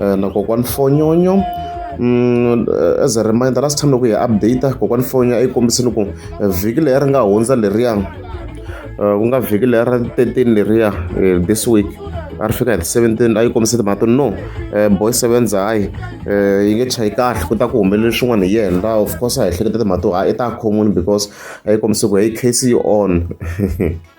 Eh, na kokwani fonyonyo Mm, eh, as a reminder last time loko hi update kokwani fonyonyo a yi kombisini ku eh, vhiki leyi ri nga hundza leriya eh, ku nga vhiki leyi ra 13 leriya eh, this week a ri fika hi 17 a yi kombise timhaka to no eh, boy sevenza hayi eh, yi nge chayi kahle ku ta ku humelele swin'wana hi yena of course a hi hleketa timhaka to hayi i ta khomuni because a yi kombise ku hey case yi on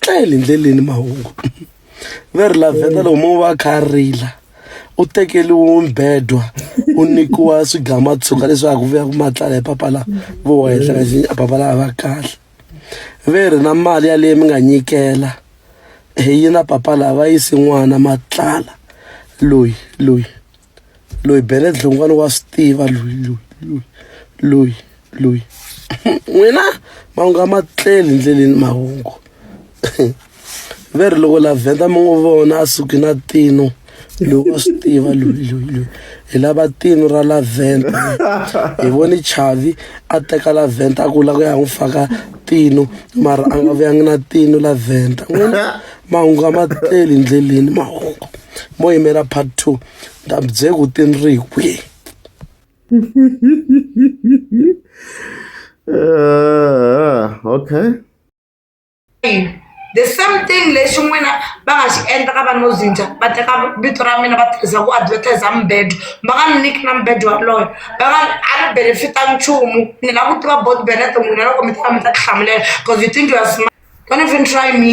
tlele ndleleni mahungu ve ri lavheta loko mo va kha rila u tekeliwe mbedwa u nyikiwa swigama tshuka leswaku vuya ku matlala hi papa la vo henhla kasi a papa la a va kahle ve ri na mali yaleyi mi nga nyikela hi yina papa la va yisi n'wana matlala loyi loyi loyi bele dlongwana wa swi tiva loyi loyi loyi loyi loyi n'wina mahungu a ma tleli ndleleni mahungu ve ri loko la vhenda mi n'wi vona a suki na tino loyi wa swi tiva loyi loyi loyi hi lava tino ra la vhenda hi voni chavi a teka la vhenda a ku la ku ya n'wi faka tino mara a nga vuyangi na tino la vhenda n'wina mahungu a ma tleli ndleleni mahungu mo yimela part two ni ta mi byela ku ti ni ri hi kwihi Ah, okay the same thing lexi n'wina va nga xi endla ka vanhu vo zinja va teka vito ra mina va tirhisa ku advertise mbedo va nga ni niki na mbedo waloyo va nga a ni benefita nchumu ni lava ku tiva bot benete n'wina loko mi ta va mi ta tihlamulela because you think you are smart don't even try me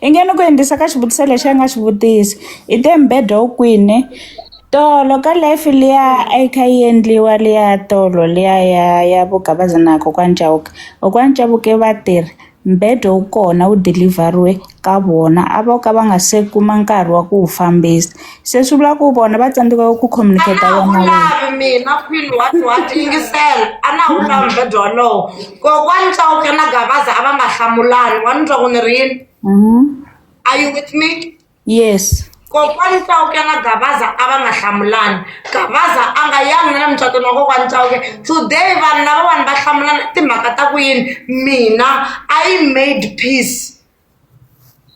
I nge ni ku endlisa ka xivutiso lexi a nga xi vutisa i te mbhedha wu kwini tolo ka life liya a yi kha yi endliwa liya tolo liya ya ya vo Gabaza na kokwana Chauke kokwana Chauke va tirhi mbhedwa wu kona wu dilivheriwe ka vona a vo ka va nga se kuma nkarhi wa ku wu fambisa. se swi vula ku vona va tsandzeka ku communicate-a mina khwini wa tiwati yingisela a na wu lavi bebyo wolowo kokwani cawuke na gavaza a va nga hlamulani wa ni twa ku ni ri yini mm-hmm. are you with me yes kokwani cawuke na gavaza a va nga hlamulani gavaza a nga yangi na le mucatweni wa kokwani cawuke today vanhu lava vanhu va hlamulana timhaka ta ku yini mina i made peace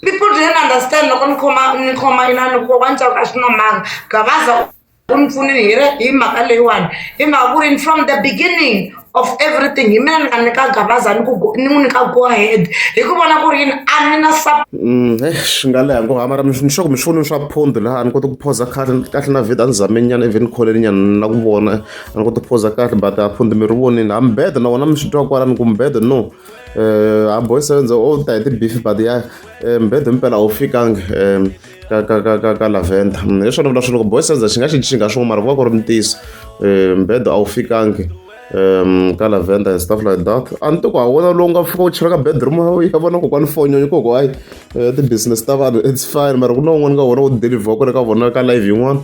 People didn't understand loko ni khoma ni khoma inani ku kokwana Chauke a swi na manga Gavaza u ni pfunile hi ri hi mhaka leyiwani hi mhaka ku ri from the beginning of everything hi mina ni nga nyika Gavaza ni ku ni n'wi nyika go ahead hi ku vona ku ri yini a ni na swi nga leha ngo hamara ni sure ku mi swifunini swa phundu laha a ni koti ku phoza kahle kahle na vhida ni zameni nyana even kholeni nyana na ku vona a ni koti ku phoza kahle but a phundu mi ri vonile ha mubeda na wona mi swi twa kwalani ku mubeda no um a boy sevenze o ta hi ti-beef but ya um mbhedo mpela a wu fikangi um ka ka ka ka ka lavenda mm, hi swona vula swi loko boy sevenze xi nga xi xi nga swin'we mara ku va ku ri ntiyiso um mbhedo a wu fikangi um ka lavenda and stuff like that a ni to ku ha wona lowu nga fika u chela ka bedroom ya vona kokwani fonyonyi koko hayi eh, ti-business ta vanhu it's fine mara ku na un'wana ka wona wu deliver ku le ka vona ka live yin'wana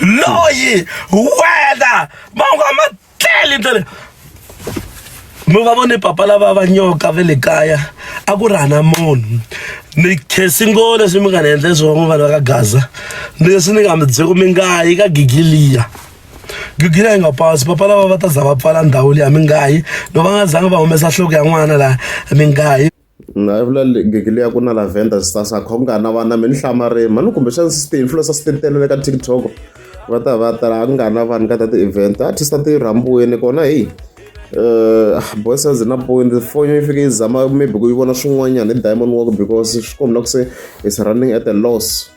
loyi wena mangu a ma tleli ndlela mi va vone papa lava va nyoka ve le kaya a ku ri hana munhu ni khesi ngo leswi mi nga ni endle swona vanhu va ka gaza ni leswi ni nga mi byeko mi nga yi ka gigiliya gigila yi nga pasi papa lava va ta za va pfala ndhawu leyi a mi nga yi loko va nga zanga va humesa nhloko ya n'wana laha mi nga yi na vula gigile ya ku na lavenda sisasa kha ku nga na vana mi ni hlamarimi mani kumbexana sixteen influencer sixteen telele ka tiktok va ta va tala ku nga na vanhu ka ta ti-event artist a ti rhambiwini kona heyi um eh, boysazi na point foni yi fike yi zama maybe ku yi vona swin'wanyana hi diamond work because swi kombela ku se is running at a loss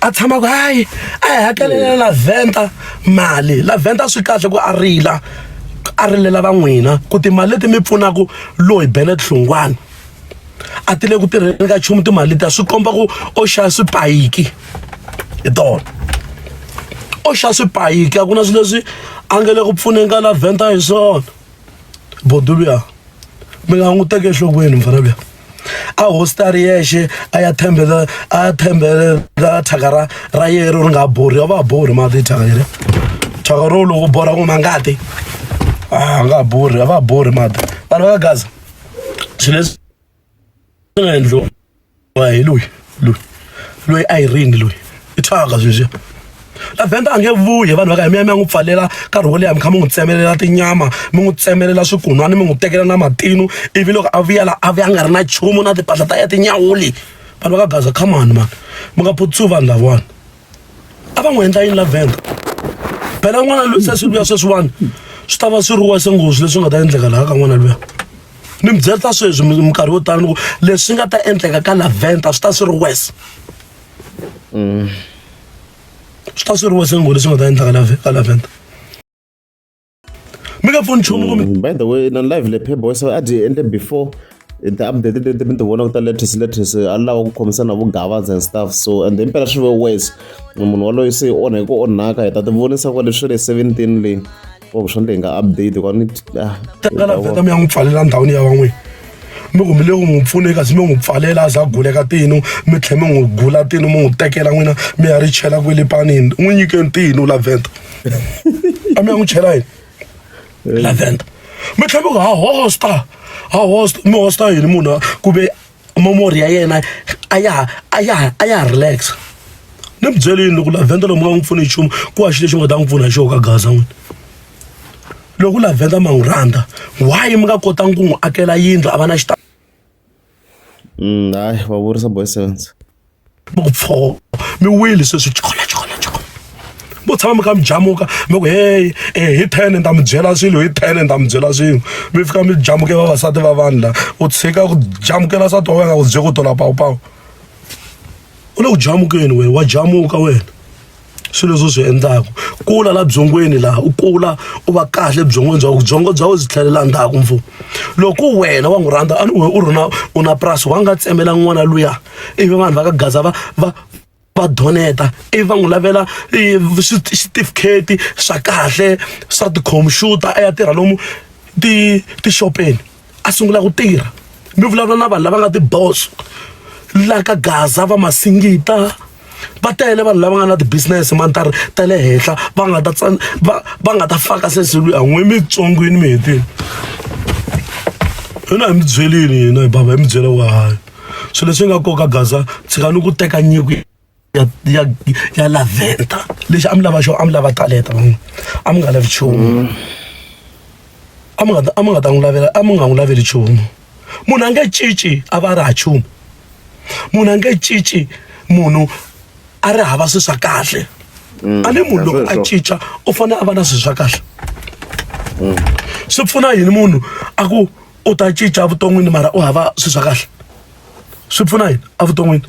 a tshama ku hayi a hi hakelela la venta mali la venta swi kahle ku a rila a rilela va n'wina ku timali leti mi pfunaka loyi bele tlhungwana a ti le ku tirheni ka nchumu timali ta swi komba ku o xava swipayiki hi tona o xava swipayiki a ku na swilo leswi a nge le ku pfuneni ka la venta hi swona boduluya mi nga n'wi teke enhlokweni mfana luya a hostari yexe a ya thembela a ya thembela thyaka ra ra yero ri nga borhi yo va borhi mati thyaka yere thyaka ro loko borha ku ma ngati a nga borhi a va borhi mati vanhu va ka gaza swilo leswi swi nga endliwa hi loyi loyi loyi a yi ringi loyi i thyaka sweswiya la venda a nge vuyi vanhu va ka hi miya mi ya n'wi pfalela nkarhi wo leha mi kha mi n'wi tsemelela tinyama mi n'wi tsemelela swikun'wana mi n'wi tekela na matinu ivi loko a vuya la a vuya a nga ri na nchumu na timpahla ta ya tinyawuli vanhu va ka gaza come on mani mi nga phutswi vanhu lavawani a va n'wi endla yini la venda phela n'wana loyi se swi luya sweswiwani swi ta va swi ri wese nghozi leswi nga ta endleka laha ka n'wana luya ni mi byerisa sweswi minkarhi yo tala ni ku leswi nga ta endleka ka laventa swi ta swi ri wese mm. swi ta swi ri wese nghozi leswi nga ta endleka ka laventa mi nga pfuni nchumu kumbe mm, by the way na live le phebo so a dyi endle before ti-update leti mi ti vonaka ta latest latest a lava ku khomisana na vugavadza and stuff so and then mpela swi ve wes munhu waloyi se i onha hi ku onhaka hi ta ti vonisa kwale swi le seventeen leyi or swa ndle hi nga update kwani ah, takala veta mi ya n'wi pfalela ndhawini ya van'wini mi ku mi le ku n'wi pfune kasi mi n'wi pfalela a za gule ka tinu mi tlhe mi n'wi gula tinu mi n'wi tekela n'wina mi ya ri chela kwele panini n'wi nyikeni tinu laventa a mi ya n'wi chela yini laventa mi tlhe mi ku ha hosta ha hosta mi hosta yini munhu ku ve momori ya yena a ya a ya a ya relax ni mi byelini loko laventa lomu nga n'wi pfuni nchumu ku wa xi lexi u nga ta n'wi pfuna hi xoho ka gaza n'wini loko la venda ma n'wi rhandza why mi nga kotangi ku n'wi akela yindlu a va na xita mm, hayi va vurisa boy sevens mi ku pfo mi wile sweswi chokola chokola chokola vo tshama mi kha mi jamuka mi ku heyi eh, hi ten ni ta mi byela swilo hi ten ni ta mi byela swilo mi fika mi jamuke vavasati va vanhu la u tshika ku jamukela swa toho nga ku bye ku tola pawupawu u le ku jamukeni wena wa jamuka wena swilo leswi u swi endlaka kula la byongweni laha u kula u va kahle byongweni bya byongo bya u byi tlhelela ndzhaku mfu loko wena wa n'wi rhandza a ni we u ri na u na purasi wa nga tsemela n'wana luya ivi vanhu va ka gaza va va va doneta ivi va n'wi lavela xitifiketi swa kahle swa tikhompyuta a ya tirha lomu ti tixopeni a sungula ku tirha mi vulavula na vanhu lava nga tiboso la ka gaza va masingita va tele vanhu lava nga na ti-business mantari ta le henhla va nga ta va va nga ta faka seselu ya n'we mitsongwini mi hetini hina hi mi byelini hina hi bava hi mi byela wa hayi swilo leswi nga koka gaza tshika ni ku teka nyiko ya ya ya laventa lexi a mi lava xona a mi lava talenta van'wina a mi nga lavi nchumu a mi nga a mi nga ta n'wi lavela a mi nga n'wi laveli nchumu munhu a nge cinci a va a ri ha nchumu munhu a nge cinci munhu a ri hava swi swa kahle a ni munhu loko a cinca u fanele a va na swi swa kahle swi pfuna yini munhu a ku u ta cinca evuton'wini mara u hava swi swa kahle swi pfuna yini evuton'wini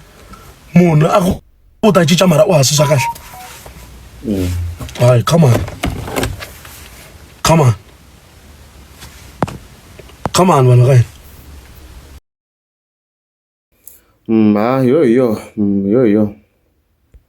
munhu a ku u ta cinca mara u hansi swa kahle mm. hayi come on come on come on vanhu ka hina mm, ha yo yo mm, yo yo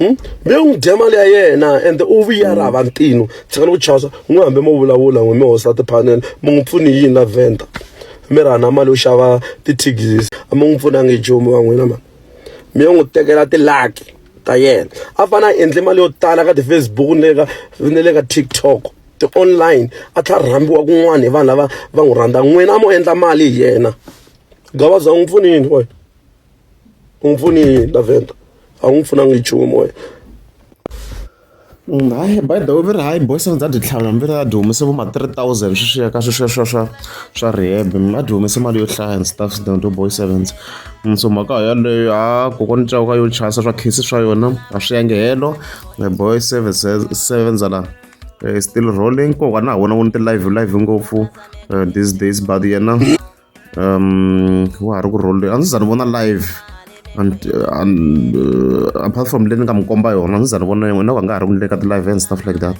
Hmm? mi n'wi dya mali ya yena and u vuyara hava ntino tshikani ku chasa n'wi hambi mo vulavula n'wi mi hosta tiphanele mi n'wi pfuni yini la venda mi ra na mali yo xava ti-tigis a mi n'wi pfunangi nchumu wa n'wina mani mi yo n'wi tekela tilaki ta yena a fane a endle mali yo tala ka ti-facebook ni le ka ni le ka tiktok ti-online a tlha rhambiwa kun'wana hi vanhu lava va n'wi rhandza n'wina a mo endla mali hi yena gavaza u n'wi pfuni yini wena u n'wi pfuni yini lavenda a wu n'wi pfunanga hi nchumu wena mm, hayi by the way mi ri hayi boys ndza dyi tlhava mi ri a dyi humese vo ma three thousand swi swiya ka swi swa swa swa swa rehab mi a dyi humese mali yo hlaya and stuff dondo boy sevens mm, so mhaka yaleyo ha kokwana cawu ka yo chasa swa khisi swa yona a swi yange helo boy sevens sevens la eh, still rolling kokwana ha wona wu ni ti live live ngopfu eh, these days but yena um wa ha ri ku role a ndzi za ni vona live and, and uh, apart from leyi ni nga mi komba yona a ndzi za ni vona yin'we na va nga ha ri ku ni le ka ti-live and stuff like that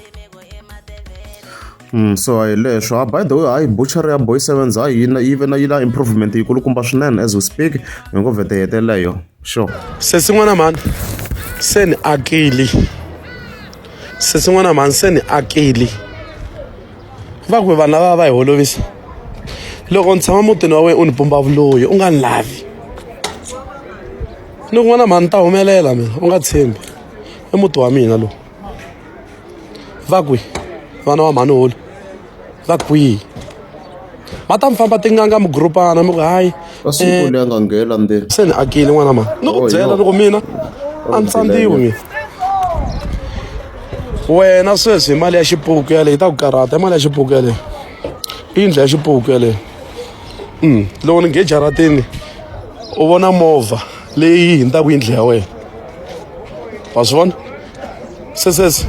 Mm, so hi leswo ah, by the way hayi butchery ya boy sevens hayi yi na- yi ve na yi na improvement yikulukumba swinene as we speak hi ngo vhete heteleyo sure sesi n'wana mhani se ni akili sesi n'wana mhani se ni akili va ku vanhu lava va hi holovisa loko ni tshama mutini wa wena u ni pumba vuloyi u nga ni lavi ni ku n'wana mhani ta humelela mina u nga tshembi i muti wa mina lowu va kwi vana wa mhani holo va kwihi va ta mi famba tinganga mugurupana mi ku hayi ka siku leyi a nga nghena la ndzeni se ni akile n'wana ma ni ku byela loko mina a ni tsandziwi mina wena sweswi hi mali ya xipuku yaleyo yi ta ku karhata i mali ya xipuku yaleyo i yindlu ya xipuku yaleyo um loko ni ngejaratini u vona movha leyi hindzaku yindlu ya wena wa swi vona sesese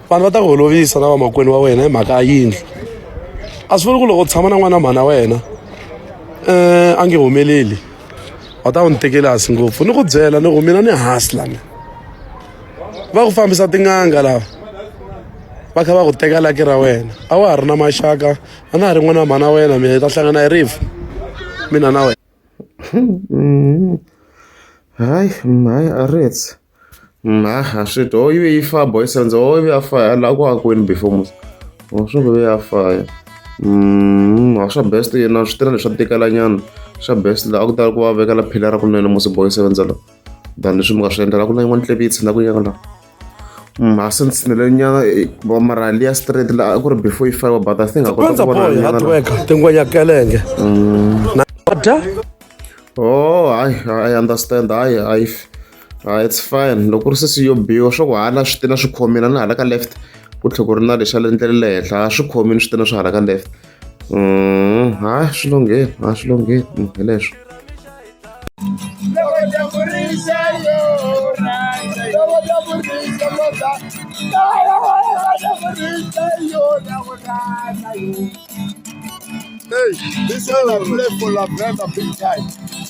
vanhu va ta ku holovisa na vamakwenu wa wena hi mhaka ya yindlu a swi vuli ku loko u tshama na n'wana mhana wena um a nge humeleli va ta ku ni tekeli hansi ngopfu ni ku byela ni ku mina ni hansi lani va ku fambisa tin'anga lava va kha va ku teka laki ra wena a wa ha ri na maxaka a na ha ri n'wana mhana wena mina hi ta hlangana hi rifu mina na wena hayi hayi a ritsi Nah, swi dyi ho yive yi fa boys and ho yive ya fa la ku akweni before mos ho swi ve ya fa ya mm ha swa best yena swi tirha leswa tikela nyana swa best la a ku tala ku va vekela phila ra kunene mos boys and la than leswi mi nga swi endlela ku na yin'wana tlebi yi tshina ku yaka la ma since ni le nyana va mara liya straight la a ku ri before yi fiwa but i think a kota ku vona hard work tingwenya kelenge na dya oh hayi i understand hayi hayi Ah, it's fine loko ku ri sesi yo biwa swa ku hala swi tina swi khomina na hala ka left ku tlhe ku ri na lexa le ndlele le henhla a swi khomini swi tina swi hala ka left mm, ha swi longheni ha swi longheni mm, hi leswo Hey, this is a play for La Brenda big time.